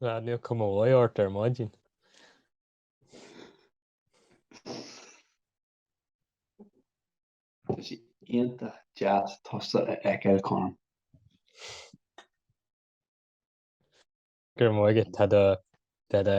Ná níl cuma mhaith ort ar maidin. Tá sé iontach deas tusa a fheiceáil, Colm. Go raibh maith agat, tá do, tá do.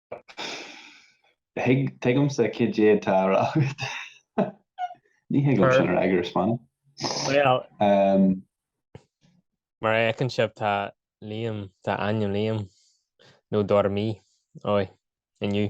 Tuigimse cad é atá á rá agat. Ní thig liom sin a rá ag Iris Meáin. Bhuel, mar a fheiceann sibh tá Liam, tá ainm Liam, nó Dormy, aoi, inniu.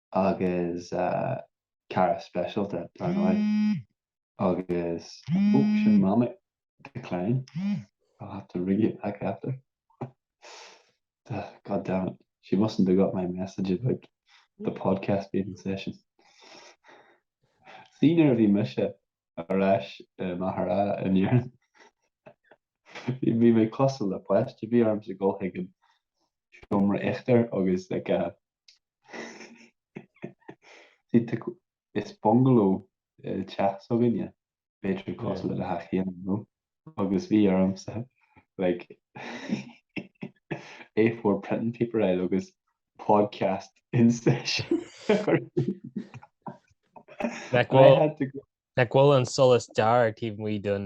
agus cara speisialta, dar ndóigh, agus ó, sin Mamaí, decline, I'll have to ring you back after. God damn it, she mustn't have got my message about the podcast being in session. Sea, nuair a bhí mise ar ais i Machaire Rátha in Éirinn, bhí mé cosúil le poist a bhí ormsa gabháil chuig an seomra íochtair, agus like a Is bungaló teach s'againne, b'fhéidir cosúil le teach Sheáin nó, agus bhí ormsa A4 printing paper a fháil agus podcast in session a chur síos. Nach bhfuil an solas dearg taobh amuigh den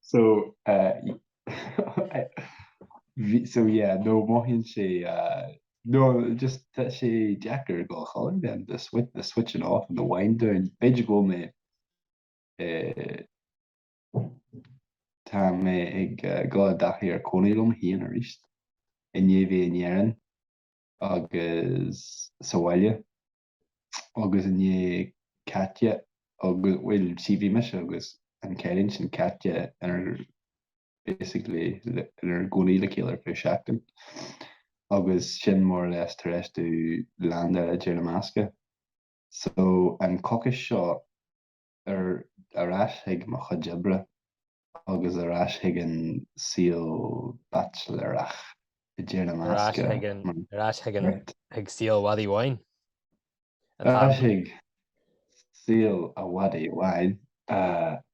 So so yeah nó mothaíonn sé nó just tá sé deacair don cholainn then the switch the switching off and the wind down b'fhéidir go bhfuil mé tá mé ag gabháil i dtaithí ar cónaí liom féin arís i ndiaidh mhí in Éirinn agus sa bhaile agus i ndiaidh caite agus, bhuel, sea, bhí mise agus an cailín sin caite inár, basically, inár gcónaí le chéile ar feadh seachtain agus sin more or less tar éis domh leaindeáil i dTír na mBascach. So, an coicís seo. Ar ais chuig mo chuid oibre agus ar ais chuig an saol baitsiléireach, i dTír na mBascach. Ar ais chuig an, ar ais chuig an, chuig saol an mhadaidh bháin. Ar ais chuig saol an mhadaidh bháin,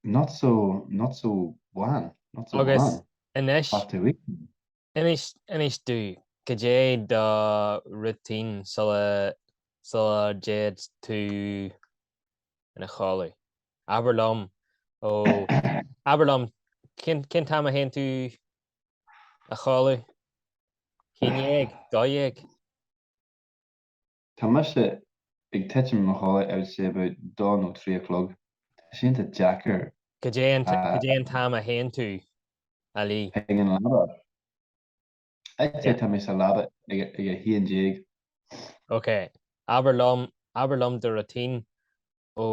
not so, not so bhán, not so bhán. Agus anois, anois, inis dúinn, cad é do routine sula, sula dtéid tú ina chodladh. Abair liom, ó, abair liom, cén, cén t-am a théann tú a chodladh? Haon déag? Dó dhéag? Tá mise ag titim a chodladh, I would say about dó nó trí a chlog. Tá sé iontach deacair. Cad é an, cad é an t-am a théann tú a luí? Ag an leaba. I'd say, tá mé sa leaba ag a haon déag. Ok, abair liom, abair liom do routine ó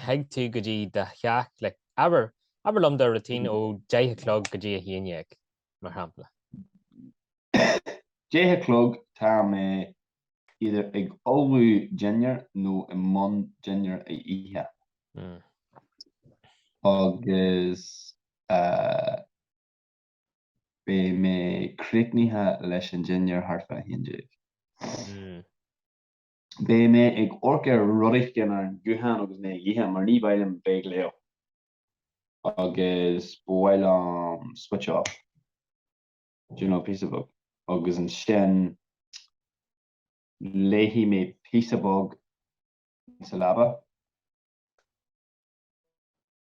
thig tú go dtí do theach like, abair, abair liom do routine ó deich a chlog go dtí a haon déag, mar shampla. Deich a chlog, tá mé either ag ullmhú dinnéar nó i mbun dinnéar a ithe. Agus eh. Beidh mé críochnaithe leis an dinnéar thart fá a haon déag. Beidh mé ag amharc ar rud éigin ar an ghuthán agus mé ag ithe, mar ní maith liom bheith ag léamh, agus ba mhaith liom switch off, do you know, píosa beag, agus ansin léifidh mé píosa beag sa leaba.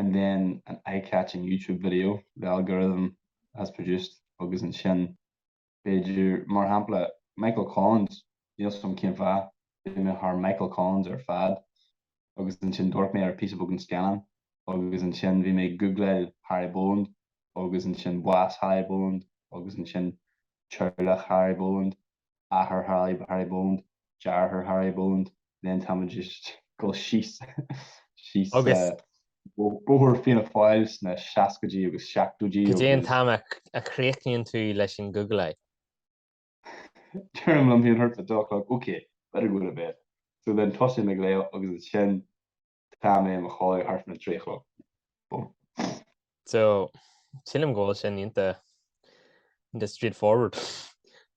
and then an eye-catching YouTube video the algorithm has produced agus ansin b'fhéidir, mar shampla, Michael Collins, níl 's agam cén fáth, d'imigh mé thar Michael Collins ar fad agus ansin d'amharc mé ar píosa beag den scannán agus ansin bhí mé ag googláil Harry Boland agus ansin bás Harry Boland agus ansin teaghlach Harry Boland. athair Harry, Harry Boland, deartháir Harry Boland, then tá mé ag dul síos, síos bóthar Fianna Fáil sna seascaidí agus seachtóidí agus. Cad é an t-am a chríochnaíonn tú leis an googláil? Deirim liom féin thart fá two o'clock, okay, better go to bed. So then tosaím ag léamh agus ansin. Tá mé i mo chodladh thart faoin a trí a chlog. Bum. So, sílim go bhfuil sin iontach straightforward.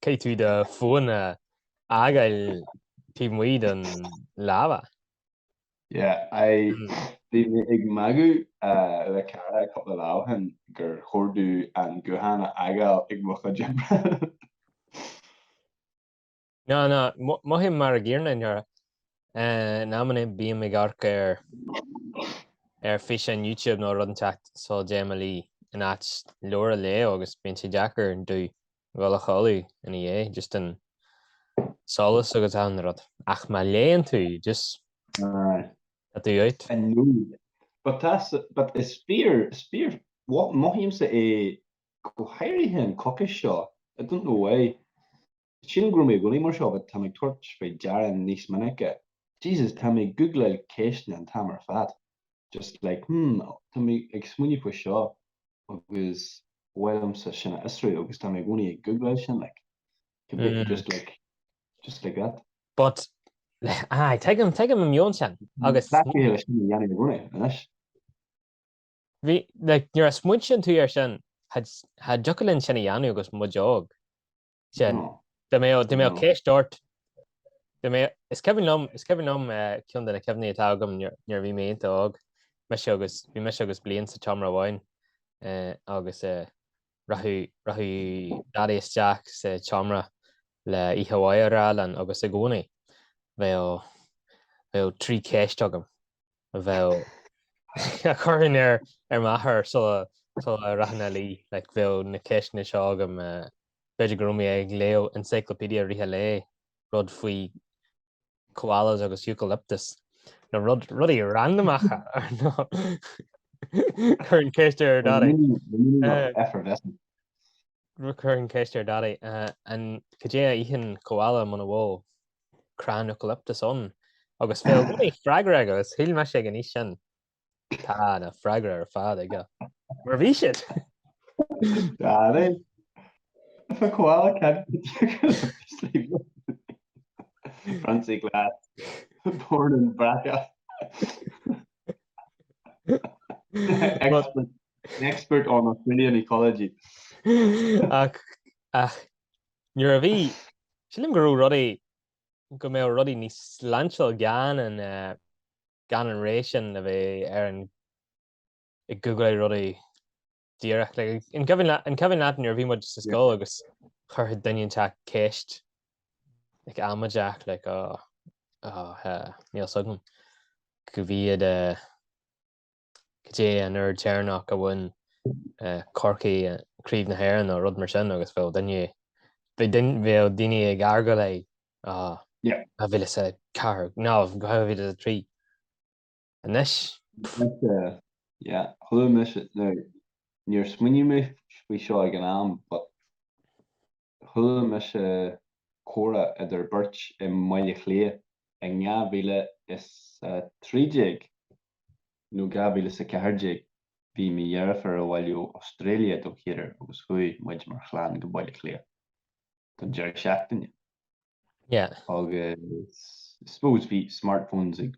Caithfidh tú do fón a fhágáil taobh amuigh den leaba. Yeah, I, bhí mé ag magadh le cara cupla lá ó shin gur chóir dom an guthán a fhágáil ag mo chuid oibre. Ná, ná, mothaím mar an gcéanna i ndáiríre. In amanna bím ag amharc ar físeáin YouTube nó rud inteacht sula dtéim a luí in áit leabhar a léamh agus bíonn sé deacair dom dhul a chodladh ina dhiaidh just an solas agus achan rud. Ach má léann tú, just tá tú out. I know. But tá, but is fearr, is fearr, mothaímse é go háirithe an coicís seo, I don't know why. Sílim go raibh mé i gcónaí mar seo but tá mé ag tabhairt faoi deara níos minice, Jesus, tá mé ag googláil ceisteanna an t-am ar fad, just like hmm tá mé ag smaoineamh faoi seo agus ba mhaith liomsa sin a fhiosrú agus tá mé i gcónaí ag googláil sin like, could be Hmm. just like, just like that. But, aye, tuigim, tuigim an meon sin. Agus- Tá chéile sin a dhéanamh i gcónaí, anois. Nuair a smaointíonn tú ar sin, cha dtiocfadh linn sin a dhéanamh agus muid óg. Sin. Dá mbeadh ceist ort. Is cuimhin liom, is cuimhin liom ceann de na cuimhní atá agam nuair a bhí mé iontach óg, mise agus, bhí mise agus Bláithín sa tseomra amháin agus rachadh Daidí isteach sa tseomra le oíche mhaith a rá linn agus i gcónaí bheadh trí ceist agam. a bheadh a chuirfinn ar m'athair sula sula rachainn a luí, like bheadh na ceisteanna seo agam, eh, b'fhéidir go raibh mé ag léamh encyclopedia i rith an lae, rud faoi koalas agus eucalyptus, nó rud rudaí random ach ar ndóigh chuirfinn ceist ar Daidí, eh, Effervescent. chuirfinn ceist ar Daidí, eh, an cad é a itheann koala muna bhfuil crann eucalyptus ann agus bheadh freagra aige agus shíl mise ag an aois sin. Tá na freagraí ar fad aige. Mar bhí siad! Dunno, if a koala can't get eucalyptus leaves. Francie Glass, born in Brackagh. An expert on Australian ecology. Ach nuair a bhí, sílim go raibh rudaí, go mbeadh rudaí níos sláintiúil gan an, gan an ré sin a bheith ar an, ag googláil rudaí díreach. Like, an cuimhin leat, an cuimhin leat nuair a bhí muid sa scoil agus chuirfeadh duine inteacht ceist, like, amaideach, like, oh, oh, uh, níl a fhios agam, cá mhéad, uh, Cad é an uair dheireanach a bhain Corcaigh craobh na hÉireann nó rud mar sin agus bheadh duine, bheadh daoine ag argáil like, Á, 2004, nó 2003. Anois? Chuala mise, nó níor smaoinigh mé faoi seo ag an am, but Chuala mise comhrá idir beirt i mBaile Átha Cliath i ndhá mhíle is a trí déag nó dhá mhíle is a ceathair déag, bhí mo dheirfiúr abhaile ó Australia don chéad uair agus chuaigh muid mar chlann go Baile Átha Cliath don deireadh seachtaine. Yeah. Agus I suppose bhí smartphones ag.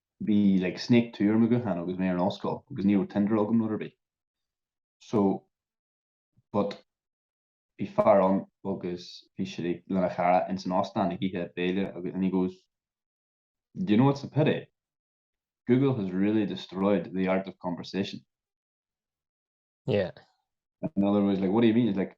bhí like snake two ar mo ghuthán agus mé ar an ollscoil agus ní raibh Tinder agam nó rud ar bith so but bhí fear ann agus bhí sé like lena chara ins an óstán ag ithe béile agus and he goes do you know what's a pity Google has really destroyed the art of conversation yeah another was like what do you mean it's like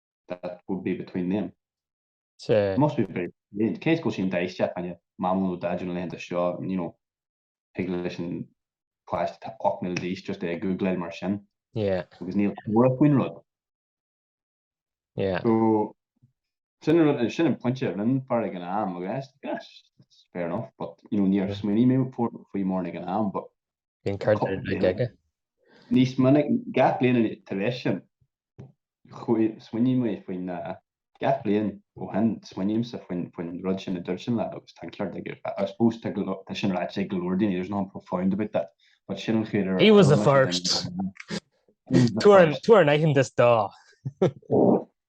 that would be between them. Sea. It must be very late. Cé is go sin deis teacht aine Maman nó Daideo na laethanta seo, you know, thig leis an páiste atá ocht mbliana d'aois just é a googláil mar sin. Yeah. Agus níl comhrá faoin rud. Yeah. So, sin rud, sin an pointe a rinne an fear ag an am, agus, yes, it's fair enough, but, you know, níor smaoinigh mé faoi mórán ag an am, but Níos minice, gach bliain tar éis sin, smaoiním mé faoin, gach bliain ó shin, smaoinímse faoin, faoin an rud sin a dúirt an lad agus tá an ceart aige. I suppose tá go leor, tá sin ráite ag go leor daoine, there's nothing profound about that, but sin an chaoi ar, He was the first! Tabhair an t-aitheantas dó!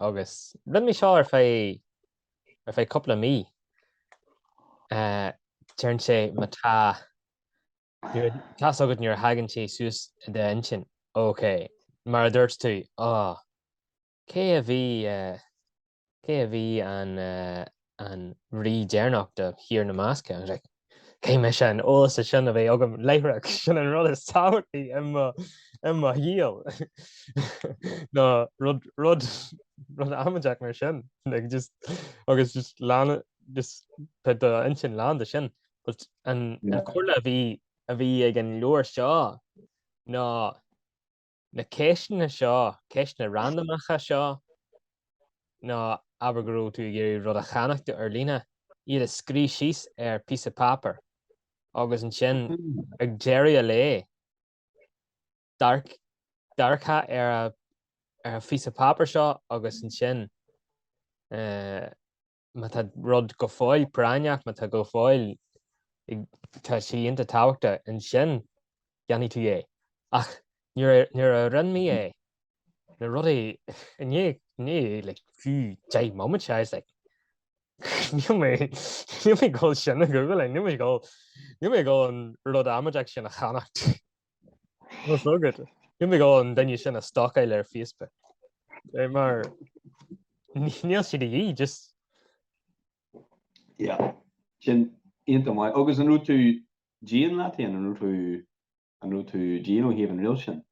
agus lean mé seo ar feadh cúpla mí. Deireann sé, má tá, tá's agat nuair a thagann sé suas i d'intinn, OK. Mar a dúirt tú, ó, cé a bhí an an rí deireanach de Thír na mBascach, agus like, caithfidh mé an t-eolas sin a bheith agam láithreach. Sin an rud is tábhachtaí i mo shaol, nó rud amaideach mar sin, agus just tá d'intinn lán de sin. But an chomhairle a bhí ag an leabhar seo ná na ceisteanna seo, ceisteanna randamacha seo, nó abair go raibh tú ag iarraidh rud a cheannacht ar líne, iad a scríobh síos ar phíosa páipéir agus ansin ag deireadh an lae, dearcadh ar an phíosa páipéir seo agus ansin. má tá rud go fóill práinneach, má tá go fóill, tá sé ionta tábhachtach, ansin déanfaidh tú é. Ach nuair a rinne mé é, na rudaí, i ndiaidh like fiú deich mbomaite, I was like, níl mé, níl mé ag dul sin a Ghoogláil, níl mé ag dul, níl mé ag dul an rud amaideach sin a cheannacht. Ní bheadh an duine sin ag stalkáil ar Facebook mar níl siad, just. Yeah. Sin iontach maith. Agus an raibh tú dian leat féin? An raibh tú an raibh tú dian ó thaobh an riail sin?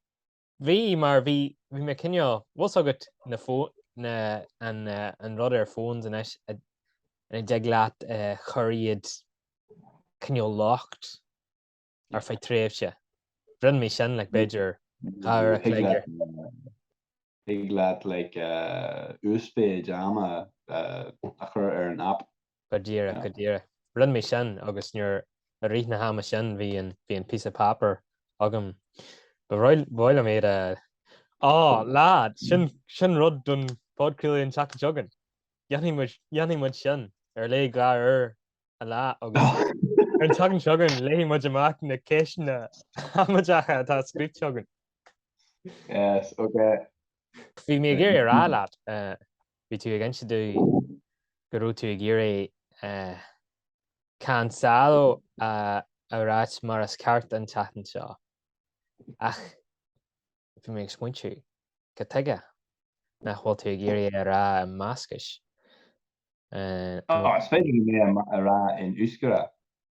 Bhí mar bhí bhí mé cineál bhfuil s'agat na fó na an rud ar phones anois go dtig leat chuir iad cineál locked ar feadh tréimhse. Rinne mé sin, like, b'fhéidir dhá uair an chloig ar. Thig leat, like, uasmhéid ama a chur ar an aip. Go díreach, go díreach. Rinne mé sin agus nuair, i rith na hama sin bhí an, bhí an piece of paper agam. Ba bhreá liom iad a, á, leaid, sin, sin rud don Phodcraoladh an tseachtain seo chugainn. Dhéanfaidh muid, dhéanfaidh muid sin, ar léigh dhá uair a lá agus ar an tseachtain seo chugainn léifidh muid amach na ceisteanna amaideacha atá scríte againn. Yes, ok. Bhí mé ag iarraidh a rá leat, bhí tú ag inse domh go raibh tú ag iarraidh Cancelo a rá mar is ceart an tseachtain seo ach bhí mé ag smaointiú, cad tuige nach bhfuil tú ag iarraidh é a rá i mBascais? Nó. Ó, is féidir liom é a rá in euskara,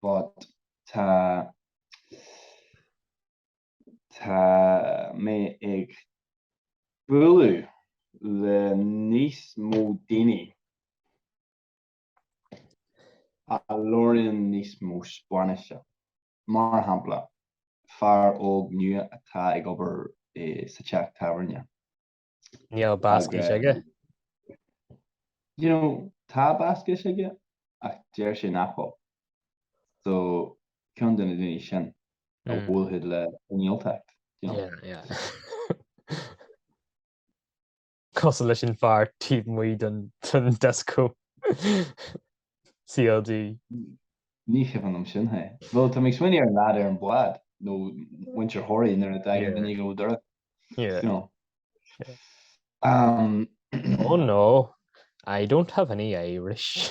but tá mé ag bualadh le níos mó daoine a labhraíonn níos mó Spáinnise. Mar shampla, fear óg nua atá ag obair sa teach tábhairne. Níl Bascais aige. You know, tá Bascais aige ach deir sé nach bhfuil. So, cionn de na daoine sin a bhfuil siad le cineáltacht, you know. Yeah, yeah. Cosúil leis an fear taobh amuigh den dioscó. CLG. Ní chuimhin liom sin, hé. Bhuel, tá mé ag smaoineamh ar an leaid ar an bhád, nó muintir Thoraí nuair a dtagann duine go Toraigh, you know. Um. Oh no, I don't have any Irish.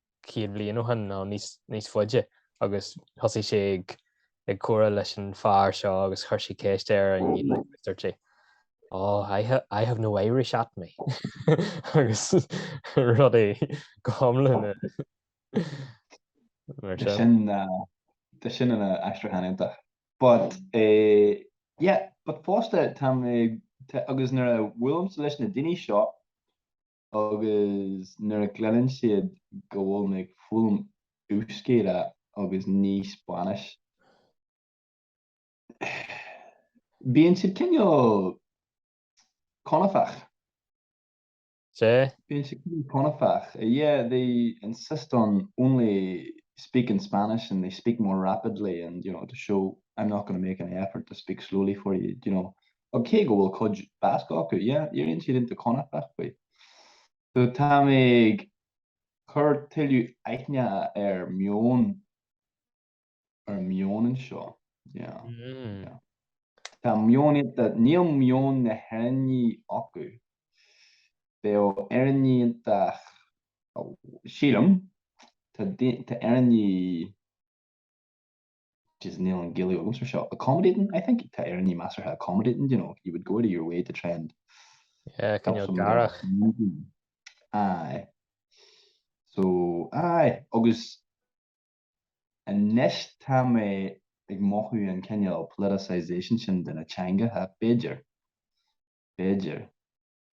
céad bliain ó shin nó níos faide agus thosaigh sé ag comhrá leis an fear seo agus chuir sé ceist air an dúirt sé oh, I, ha I have no Irish at me. agus rudaí amhlaidh mar sin. Tá sin ina aistriúchán iontach. But, uh, yeah, but fosta tá mé agus nuair a bhuailimse leis na daoine seo Agus nuair a chluineann siad go bhfuil mé ag foghlaim Euskera agus ní Spáinnis, bíonn siad cineál conafach. Sea? Bíonn siad cineál conafach. Yeah, they insist on only speaking Spanish and they speak more rapidly and, you know, to show I'm not going to make any effort to speak slowly for you, you know. Ach cé go bhfuil cuid Bascaise acu, yeah, éiríonn siad iontach conafach faoi. So tá mé ag cur tuilleadh aithne ar meon, ar an meon anseo, yeah, yeah. Tá meon iontach, níl meon na nÉireannach acu. Bheadh Éireannaigh iontach, sílim, tá Éireannaigh Jeez, níl an Ghaeilge agamsa air seo. Accommodating, I think? Tá Éireannaigh measartha accommodating, you know, you would go out of your way to try and Yeah, help cineál someone garach. else moving. Aye. So, aye, agus anois tá mé ag mothú an cineál politicisation sin de na teangacha, b'fhéidir, b'fhéidir.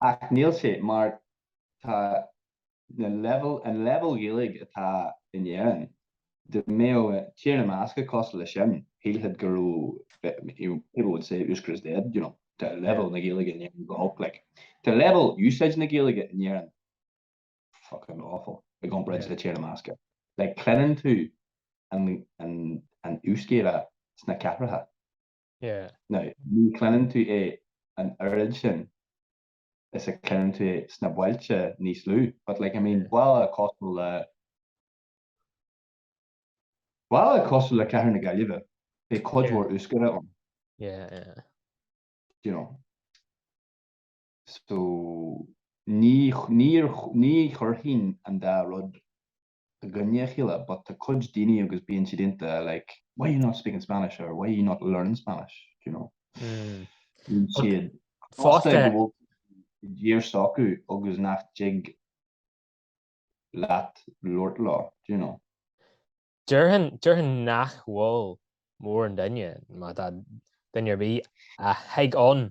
Ach níl sé, mar tá na leibhéil, an leibhéal Gaeilge atá in Éirinn, dá mbeadh Tír na mBascach cosúil leis sin, shílfeadh go raibh, you know, people would say Euskera is dead, you know, tá leibhéal na Gaeilge in Éirinn go holc, like, tá leibhéal úsáid na Gaeilge in Éirinn fucking awful i gcomparáid le Tír na mBascach. Like, cluineann tú an, an, an Euskera sna cathracha. Yeah. Now, ní chluineann tú é an oiread sin is a chluineann tú é sna bailte níos lú, but like, I mean, baile cosúil le, baile cosúil le cathair na Gaillimhe, beidh cuid mhór Euskera ann. Yeah, yeah. Do you know? So, ní, ní, ní chuirfinn an dá rud i gcoinne a chéile but tá cuid daoine agus bíonn siad iontach like why you not speaking Spanish or why you not learning Spanish do you know bíonn siad fosta go bhfuil díomá orthu agus nach dtig leat labhairt leo do you know Deirfinn deirfinn nach bhfuil mórán daoine má tá duine ar bith a thig ann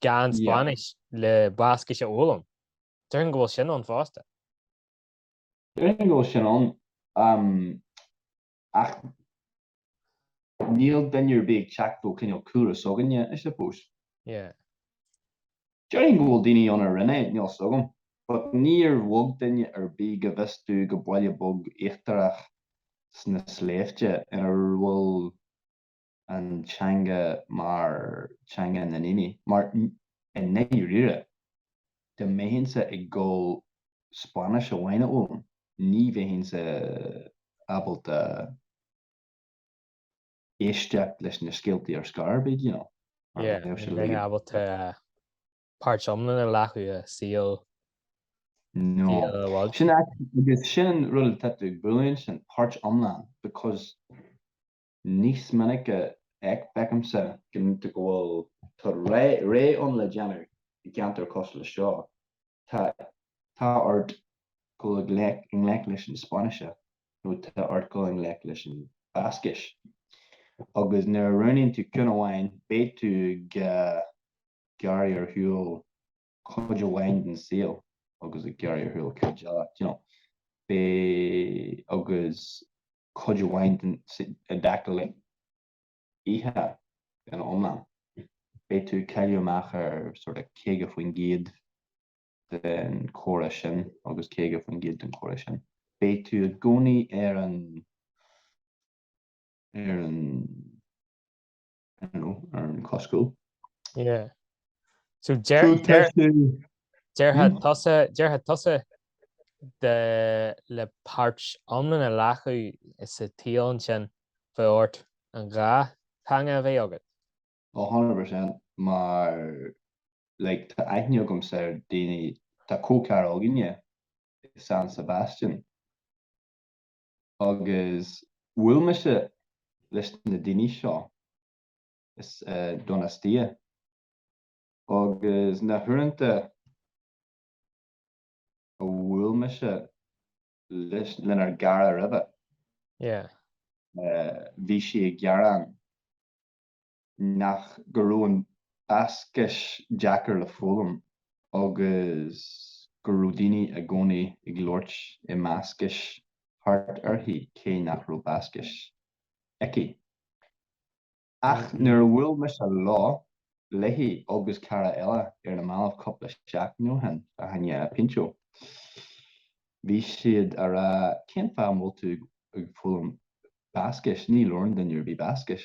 gan Spáinnis yeah. le Bascais a fhoghlaim. Deirfinn go bhfuil sin ann fosta. Déarfainn go bhfuil sin ann, ach níl duine ar bith ag teacht ó chineál chúlra s'againne, I suppose. Yeah. Déarfainn go bhfuil daoine ann a rinne é, níl 'fhios agam, but níor bhog duine ar bith go bhfios domh go baile beag iargúlta sna sléibhte ina bhfuil, an teanga mar theanga na ndaoine, mar i ndáiríre, dá mbeinn-sa ag dul Spáinnis amháin a fhoghlaim, ní bheinn-sa ábalta éisteacht leis na scéaltaí ar scor ar bith, you know, mar Yeah, bheadh sé ní bheinn ábalta páirt iomlán a ghlacadh i saol No. saol a bhailte. Sin agus sin an rud atá tú ag bualadh ansin, páirt iomlán, because Níos minice feicimse go bhfuil tá rogha ann le déanamh i gceantair cosúil leis seo. Tá tá ort dul i ngleic leis an Spáinnis nó tá ort dul i ngleic leis an Bhascais. Agus nuair a roghnaíonn tú ceann amháin, beidh tú ag gearradh ar shiúl. cuid amháin den saol agus ag gearradh ar shiúl cuid eile, you know, b'é agus cuid amháin den i dtaca le oíche ina iomlán, beidh tú ag cailleadh amach ar sort of 50% den chomhrá sin agus 50% den chomhrá sin. Beidh tú i gcónaí ar an ar an. ar an cos cúil. Yeah. So déarfá tusa le páirt iomlán a ghlacadh sa tsaol sin bheadh ort an dhá theanga a bheith agat? Oh 100% mar like tá aithne agam ar daoine, tá comhchara againne i San Sebastian. Agus bhuail mise leis na daoine seo, is Donostia, agus na huaireanta a bhuail mise leis, lenár gcara roimhe, yeah, bhí sí ag gearán. Nach go raibh an Bascais deacair le foghlaim agus go raibh daoine i gcónaí ag labhairt i mBascais thart uirthi cé nach raibh Bascais aici. Ach nuair a bhuail mise leo, léi agus cara eile ar na mallaibh cúpla seachtain ó shin, fá choinne pintxo, bhí siad ag rá cén fáth a bhfuil tú ag foghlaim Bascais, ní labhrann duine ar bith Bascais.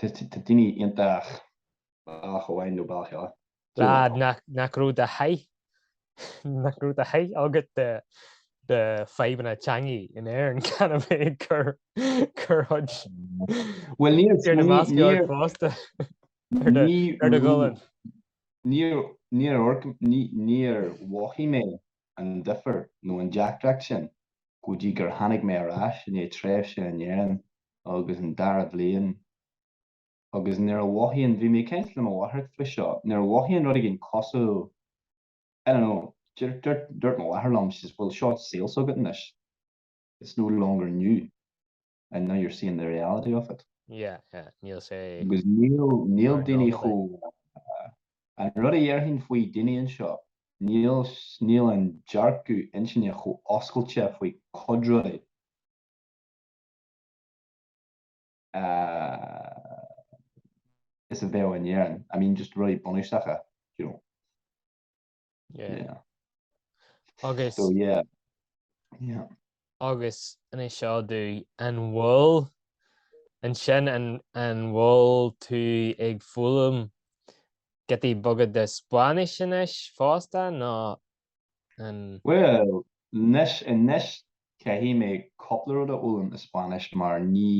Tá daoine iontach baileach ó Árainn nó Baile Átha Cliath, Dún na Rad, Gall. nach raibh do sháith nach raibh do sháith agat de de fadhbanna teangaí in Éirinn gan a bheith ag cur cur chuid Bhuel níor Tír na mBascach níor fosta ar do ar do ghualainn. níor níor níor níor mhothaigh mé an difear nó an deacracht sin go dtí gur tháinig mé ar ais i ndiaidh tréimhse in Éirinn agus an dara bliain agus nuair a mhothaíonn, bhí mé ag caint le mo mháthair faoi seo, nuair a mhothaíonn rud éigin cosúil, I don't know, dúirt, dúirt mo mháthair liom, she says, bhuel, seo saol s'agat anois, it's no longer new. and now you're seeing the reality of it. Yeah, yeah, níl sé. Agus níl, níl daoine chomh, an rud a dhéarfainn faoi daoine anseo, níl, níl an dearcadh intinne chomh oscailte faoi cuid rudaí is a bheadh in Éirinn, I mean just rudaí bunúsacha, you know. Agus Agus an é seo do an bhfuil ansin an bhfuil tú ag foghlaim giotaí beaga de Spáinnis anois fosta nó an? Bhuel, anois caithfidh mé cúpla rud a fhoghlaim i Spáinnis mar ní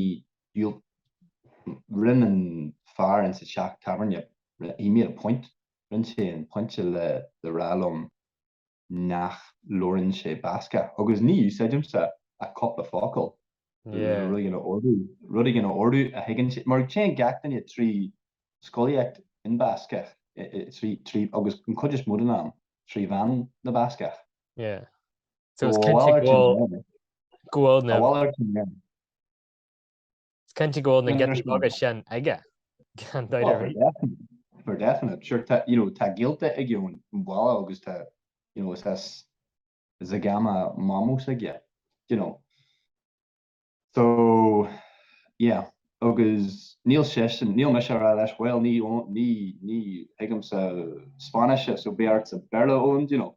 dhiúltaigh, rinn an fear insa teach tábhairne, he made a point, Rinne sé an pointe le rá liom nach labhrann sé Bascach agus ní úsáidimse ach cúpla focal, rud, rud éigin a ordú a thuigeann sé, mar téann gach duine trí scolaíocht in Bascach, trí, trí, agus an chuid is mó den am, trí mheán na Bascach. Yeah. So, Is cinnte go bhfuil na giotaí beaga sin aige, gan dabht ar bith. For definite. Sure, tá, you know, tá gaolta aige ón bhaile agus tá, you know, is as Zegama mamó s'aige, do you know. So, yeah, agus níl seisean, níl mise a rá leis, bhuel, ní, ní, ní thuigimse Spáinnis, so beidh ortsa Béarla a fhoghlaim, do you know.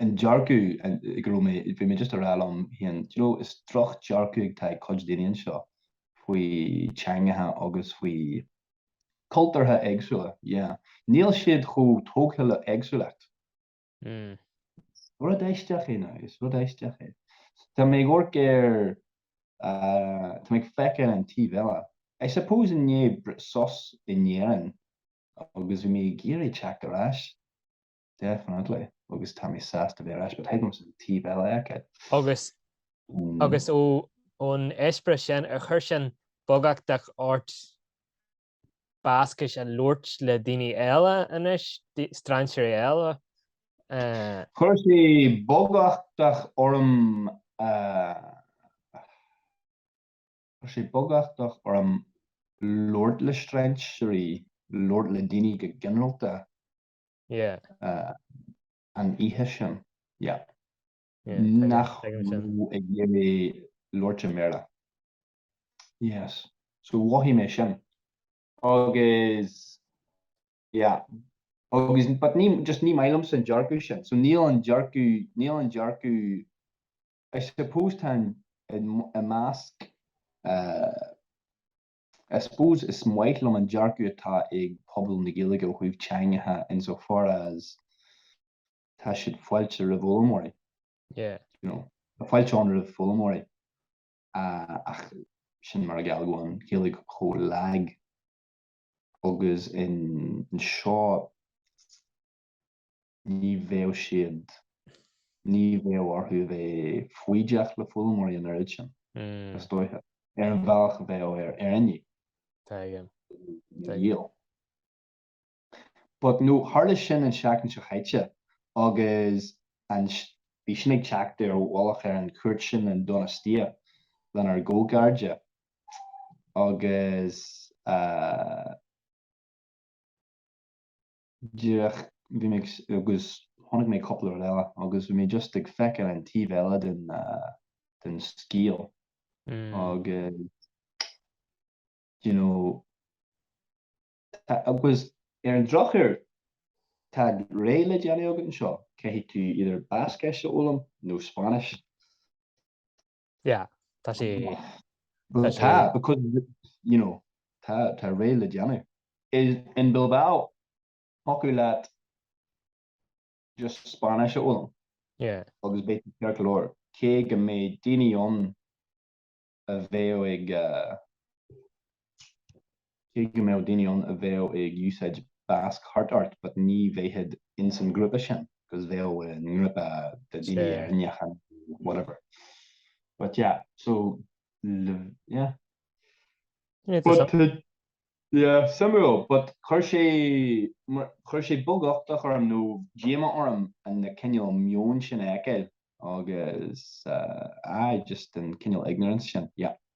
an dearcadh go raibh mé, bhí mé just ag rá liom féin, do you know, is drochdhearcadh atá ag cuid daoine anseo faoi teangacha agus faoi chultúrtha éagsúla, yeah. Níl siad chomh tógtha le éagsúlacht. Rud aisteach é ná, is rud aisteach é. Tá mé ag amharc ar, tá mé ag feiceáil an taobh eile, I suppose i ndiaidh sos in Éirinn agus bhí mé ag iarraidh teacht ar ais, definitely agus tá mé sásta bheith ar ais but thuigim an taobh eile. Agus, agus ó, ón eispéireas sin, ar chuir sin beaguchtach ort Bascais a labhairt le daoine eile anois, strainséirí eile? Chuir sé beaguchtach orm, chuir sé beaguchtach orm labhairt le strainséirí, labhairt le daoine go ginearálta. an oíche sin, yeah. nach raibh ag iarraidh labhairt i mBéarla. Yes. So mhothaigh mé sin. Agus, yeah. Agus, but ní, just ní maith liomsa an dearcadh sin. So níl an dearcadh, níl an dearcadh, I suppose tá an, i measc, I suppose is maith liom an dearcadh atá ag pobal na Gaeilge ó thaobh teangacha in so far as tá siad fáilte roimh fhoghlaimeoirí, you know. Tá fáilte ann roimh foghlaimeoirí ach sin mar a gheall go bhfuil an Ghaeilge chomh lag agus anseo. Ní bheadh siad. ní bheadh orthu a bheith foighdeach le foghlaimeoirí an oiread sin, is dóiche, ar an bhealach a bheadh orainne. Yeah. But no, tharla sin an tseachtain seo chaite agus an, bhí sin ag teacht ar mhullach ar an chuairt sin in Donostia lenár gcomhchairde agus eh, díreach, bhí mé, agus chonaic mé cúpla rud eile agus bhí mé just ag feiceáil an taobh eile den, den scéal agus you know, agus ar an drochuair tá rogha le déanamh agat anseo, caithfidh tú either Bascais a fhoghlaim nó Spáinnis. Yeah, tá sí. Well, tá, because, you know, tá, tá rogha le déanamh. Is in Bilbao thiocfadh leat just Spáinnis a fhoghlaim. Yeah. Agus beidh tú ceart go leor, cé go mbeidh daoine ann a bheadh ag, Cé go mbeadh daoine ann a bheadh ag úsáid Basque thart ort but ní bheifeá ins an ghrúpa sin cause bheadh i ngrúpa de daoine Éireannacha nó whatever but yeah so yeah but yeah suimiúil but chuir sé chuir sé beaguchtach orm nó díomá orm an na cineál meon sin a fheiceáil agus aye just an cineál ignorance sin yeah.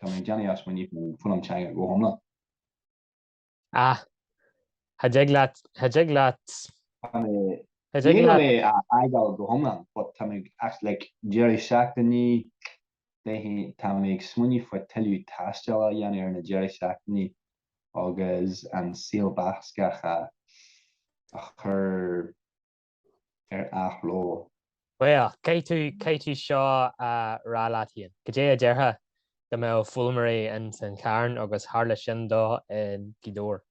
Tá mé ag déanamh ag smaoineamh faoin fhoghlaim teanga go hiomlán. Ah. Cha dtig leat, cha dtig leat. Tá mé, níl mé á fhágáil go hiomlán but tá mé ag, as like deireadh seachtainí, beidh, tá mé ag smaoineamh faoi tuilleadh taistil a dhéanamh ar na deireadh seachtainí agus an saol Bascach a, a chur. ar athló. Bhuel, caithfidh tú seo a rá leat féin. Goidé a déarfá dá mbeadh foghlaimeoirí ins an Charn agus tharla sin dó i nGaoth Dobhair?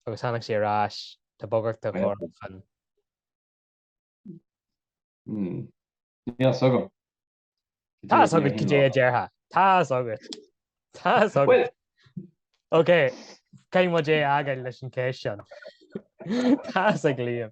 Agus tháinig sé ar ais, tá bagairt dá chur chun. Níl fhios agam. Tá fhios agat goidé a déarfá. Tá fhios agat. Tá fhios agat. Ok, caithfidh muid é a fhágáil leis an cheist sin. Tá fhios ag Liam.